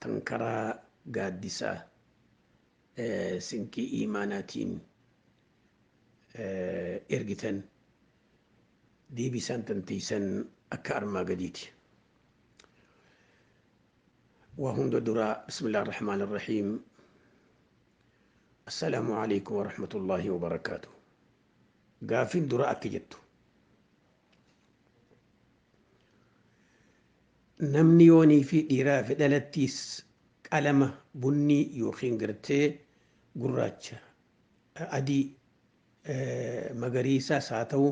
tan karaa gaaddisa sinqii iimaanaatiin ergitan deebisaan tan teeysan akka armaa gadiiti. Waa hunda dura Bismillah ar-Rahmaan ar-Rahiim Assalaamu alaikum wa rahmatullahi wa barakaatu. Gaaffiin dura akka jettu Namni yoonii fi dhiiraa fi dhalattiis qalama bunnii yookiin gartee gurraacha, adii, magariisaas haa ta'u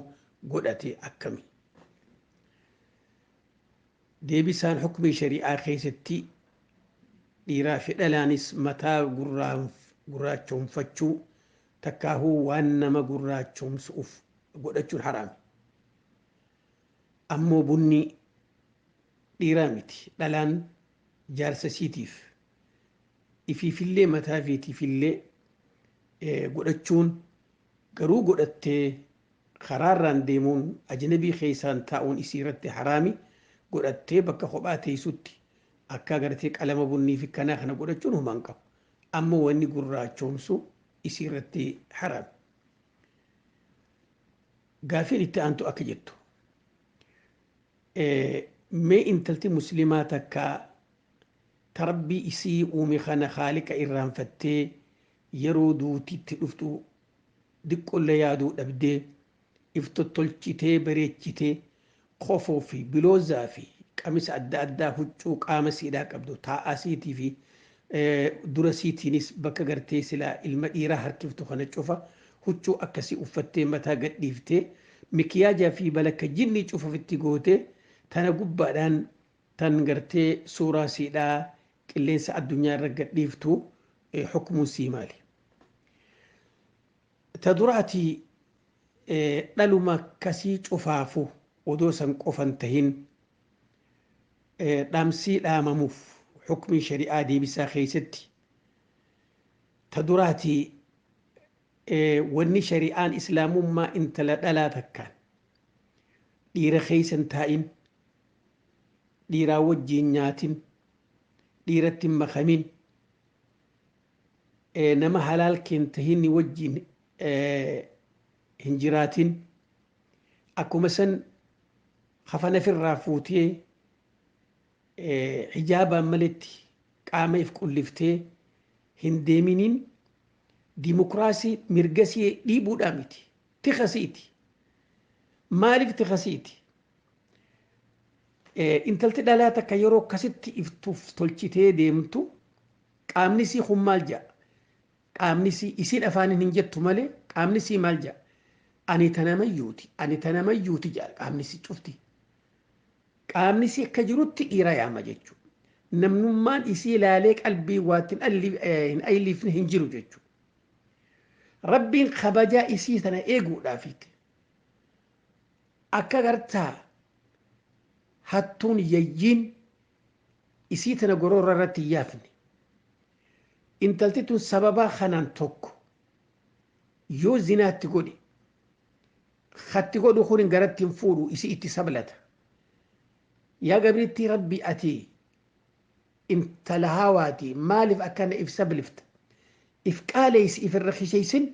godhate akkami? Deebisaan hukmii shari'aa keessatti dhiiraa fi dhalaanis mataa gurraachoomfachuu takkaahuu waan nama gurraachoomsu'uuf godhachuun haraami. Ammoo bunni dhiiraa miti, dhalaan jaarsa isiitiif, ifiifillee mataa ifiitiifillee godhachuun, garuu godhattee karaarraan deemuun, ajnabii keessaan taa'uun isiirratti haraami, godhattee bakka kophaa teessutti akka agartee qalama bunniifi kanaa kana godhachuun homaa hin qabu. Ammoo wanni gurraachoomsu isiirratti haraami. Gaafiin itti aantu akka jettu mee intalti muslimaa takka ta rabbii isii uume kana khaaliqa irraanfattee yeroo duuti itti dhuftu diqqolle yaaduu dhabdee if tottolchitee bareechitee kofoo fi biloozaa fi qamisa adda addaa huccuu qaama siidhaa qabdu taa'aa siitii fi dura siitiinis bakka gartee silaa ilma dhiiraa harkiftu kana cufa huccuu akkasii uffattee mataa gadhiiftee mikiyaajaa fi balakka jinnii cufa ofitti gootee tana gubbaadhaan tan gartee suuraa siidhaa qilleensa addunyaa irra gadhiiftu hukmuun sii maali? Ta duraatii dhaluma akkasii cufaafu odoo san qofa hin tahin dhamsii dhaamamuuf hukmii shari'aa deebisaa keessatti ta duraatii wanni shari'aan islaamummaa intala dhalaa takkaan dhiira keessa hin taa'in dhiiraa wajjiin nyaatin dhiiratti hin makamin nama halaal kee hin tahin wajjiin hin jiraatin akkuma san kafana firraa fuutee hijaabaan maletti qaama if qulliftee hin deeminiin dimokiraasii mirga si dhiibuudhaa miti tika siiti maaliif tika siiti intalti dhalaa takka yeroo akkasitti iftuuf tolchitee deemtu Qaamni isii kun maal ja'a? Qaamni isii, isiin afaaniin hin jettu malee, qaamni isii maal ja'a? Ani ta namayyuuti, ani ta namayyuuti ja'a qaamni isii cufti. Qaamni isii akka jirutti dhiira yaama jechuudha. Namnummaan isii ilaalee qalbii waatti hin alli- eh, hin ayliifne hin jiru jechuudha. Rabbiin kabajaa isii tana eeguudhaafiiti. Akka gartaa hattuun yayyiin isii tana goroorra irratti hin yaafne. Intalti tun sababaa kanaan tokko yoo zinaa itti godhe katti godhu kun garatti hin fuudhu isii itti sablata. Yaa gabrittii rabbi ati intala haawaati maaliif akkana if sablifta if qaaleessi if irra kisheessin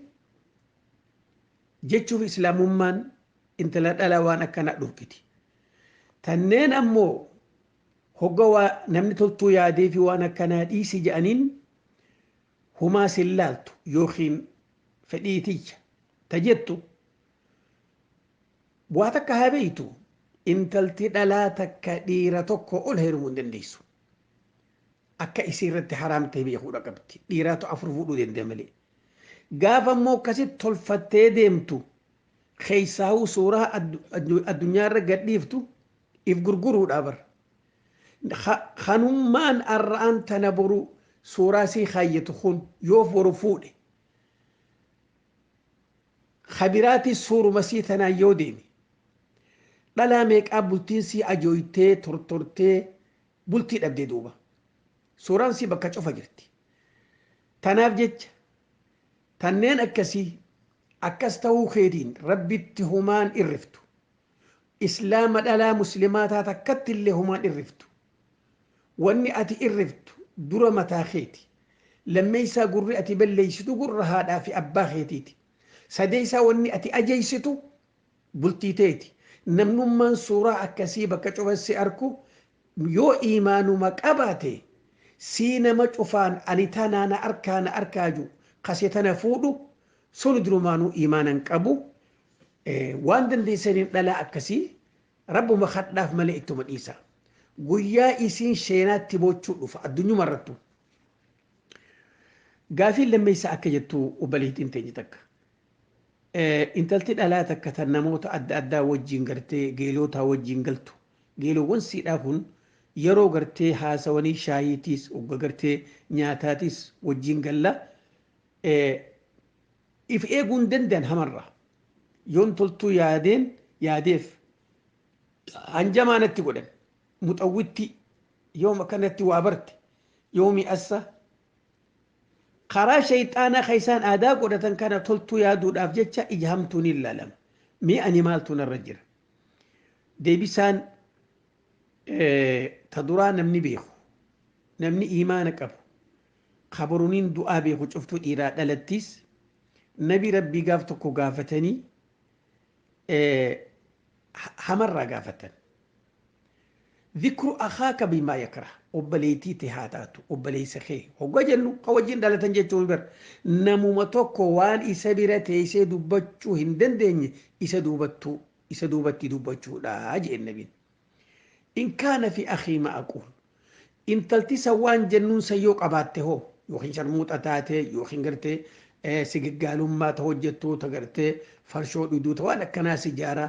jechuuf islaamummaan intala dhalaa waan akkanaa dhorkiti. Tanneen ammoo hogga waa namni toltuu yaadee fi waan akkanaa dhiisi ja'aniin humaa sin laaltu yookiin fedhii tiyya ta jettu waa takka haa beeytu intalti dhalaa takka dhiira tokko ol heerumuu hin dandeessu. Akka isii irratti haraam ta'e beekuudha qabdi. Dhiiraatu afur fuudhuu danda'a malee. Gaafa immoo akkasitti tolfattee deemtu Keessaahuu suuraa addunyaarra gadhiiftu if gurguruudha bar. Kanummaan arraan tana boru suuraa sii kaayyatu kun yoo boru fuudhe ka biraatis suuruma sii tanaan yoo deeme dhalaa meeqaa bultiin sii ajooytee tortortee bultii dhabde duuba. Suuraan sii bakka cufa jirti. Tanaaf jecha Tanneen akkasii akkas tahuu keetiin Rabbitti homaa hin irriftu. Islaama dhalaa muslimaa taate akkatti illee homaa hin irriftu. Wanni ati irriftu dura mataa keeti. Lammeeysaa gurri ati balleeysitu gurra haadhaa fi abbaa keetiiti. Sadeeysaa wanni ati ajeeysitu bultii teeti namnummaan suuraa akkasii bakka cufa si arku yoo iimaanuma qabaate sii nama cufaan ani tanaa na arkaa na arkaa ju kase tana fuudhu suni durumaanuu iimaana hin qabu waan dandeessaniin dhalaa akkasii rabbuma kadhaaf malee ittuma dhiisaa guyyaa isiin sheenaatti boochuu dhufa addunyuma irrattu gaafiin lammeessaa akka jettu obboleettiin teenya takka Intalti dhalaa takka tan namoota adda addaa wajjiin gartee geelootaa wajjiin galtu geeloowwan siidhaa kun yeroo gartee haasawanii shaayiitiis ogga gartee nyaataatiis wajjiin galla if eeguu hin danda'an hamarraa yoon toltuu yaadeen yaadeef hanjamaa natti godhan muxawwittii yoom akkanatti waa barte yoomi assa Karaa sheyxaanaa ka isaan aadaa godhatan kana toltuu yaaduudhaaf jecha ija hamtuun hin laalama. Mee ani maaltu narra jira? Deebisaan ta duraa namni beeku, namni iimaana qabu, ka boruniin du'aa beeku cuftuu dhiiraa dhalattiis nabi rabbii gaaf tokko gaafatanii hamarraa gaafatan. Zikru akhaaka bimaa yakrah, obboleeytii tee haa taatu obboleeysa kee hoggaa jennu ka wajjiin dhalatan jechuu miti bar, namuma tokko waan isa bira teeysee dubbachuu hin dandeenye isa duubattuu, isa duubatti dubbachuu dha je'een nabiin. In kaana fii akhii maa aquul, intalti san waan jennuun san yoo qabaatte hoo, yookiin sharmuuxa taate, yookiin gartee sigiggaalummaa ta hojjattu, ta gartee farshoo dhuydu, ta waan akkanaa sijaaraa,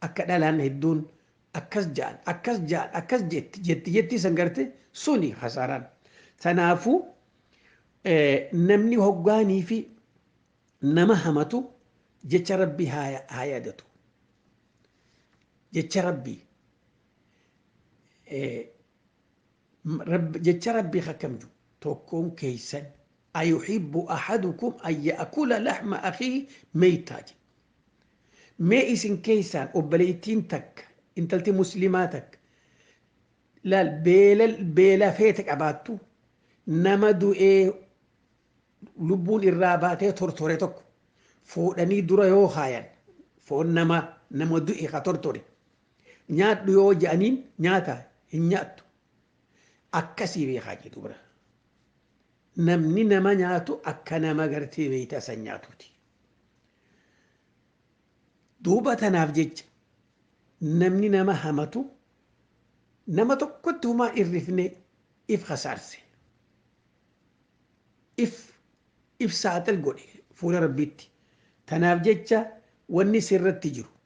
Akka dhalaan hedduun akkas ja'an akkas ja'an akkas jetti jetti jetti san garte suni hasaaraan. Tanaafu namni hoggaanii fi nama hamatu jecha rabbii haa yaadatu. Jecha rabbii jecha rabbii akkamju tokkoon keeysan Ayuhibbu ahadukum an ya'kula lahma akhiihi meytaa jedhe. Mee isin keeysaan obboleeytiin takka, intalti muslimaa takka, laal beela beela feete qabaattu, nama du'ee lubbuun irraa baatee tortore tokko fuudhanii dura yoo kaayan, foon namaa, nama du'e ka tortore, nyaadhu yoo je'aniin nyaataa? Hin nyaattu. Akkasii beekaa jee duuba. Namni nama nyaatu akka nama gartee meeyta san nyaatuuti. Duuba tanaaf jecha namni nama hamatu nama tokkotti humaa irrifne if hasaarse. If if saaxil godhe fuula rabbiitti. Tanaaf jecha wanni sirratti jiru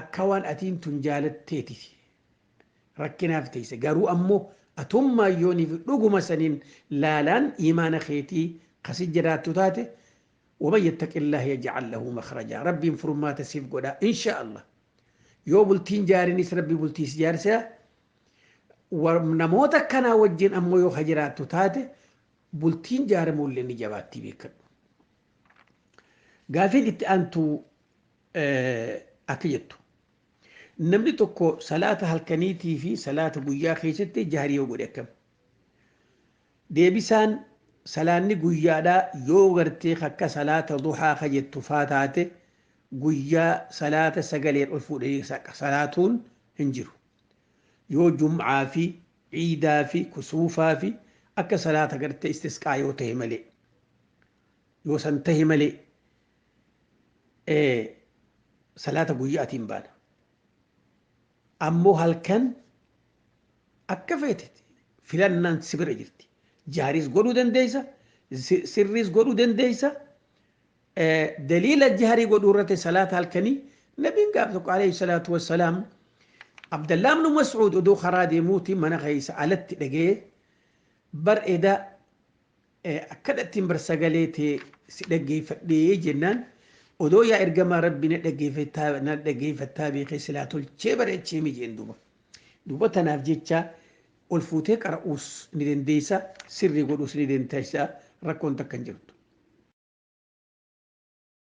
Akka waan atiin tun jaalatteetiti rakkinaaf teeyse garuu ammo atummaan yooniifi dhuguma saniin laalaan iimaana keetii ka si jiraattu taate waman yattaqillaah yaj'al lahu makhrajaa rabbiin furmaata siif godha inshaa allaah yoo bultii hin jaarinis rabbi bultii si jaarsa namoota akkanaa wajjiin ammoo yoo ka jiraattu taate bultiin jaaramuullee ni jabaattii beekkadhu. Gaafiin itti aantu akka jettu. Namni tokko salaata halkaniitii fi salaata guyyaa keessatti jahrii yoo godhe akkam? Deebisaan salaanni guyyaadhaa yoo gartee akka salaata duhaa ka jettu faa taate guyyaa salaata sagaleen ol fuudhanii salaatuun hin jiru. Yoo jum'aa fi ciidaa fi kusuufaa fi akka salaata gartee istisqaa yoo ta'e malee. yoo san tahe malee salaata guyyaatiin baana ammoo halkan akka feete filannaan si bira jirti jaariis godhuu dandeessa sirriis godhuu dandeessa daliila jaarii godhuu irratti salaata halkanii nabiin gaaf tokko alayhi salaatu wassalaam abdallaa ibnu mas'uud oduu karaa deemuuti mana keessa alatti dhagee bar eda Akkadhattiin bar sagalee tee si dhaggeeffadhee jennaan odoo yaa ergamaa rabbii na dhaggeeffattaa na dhaggeeffattaa beekee silaa tolchee bareecheemi jeen duuba. Duuba tanaaf jecha ol fuutee qara'uus ni dandeessa sirrii godhuus ni dandeessa rakkoon takka hin jirtu.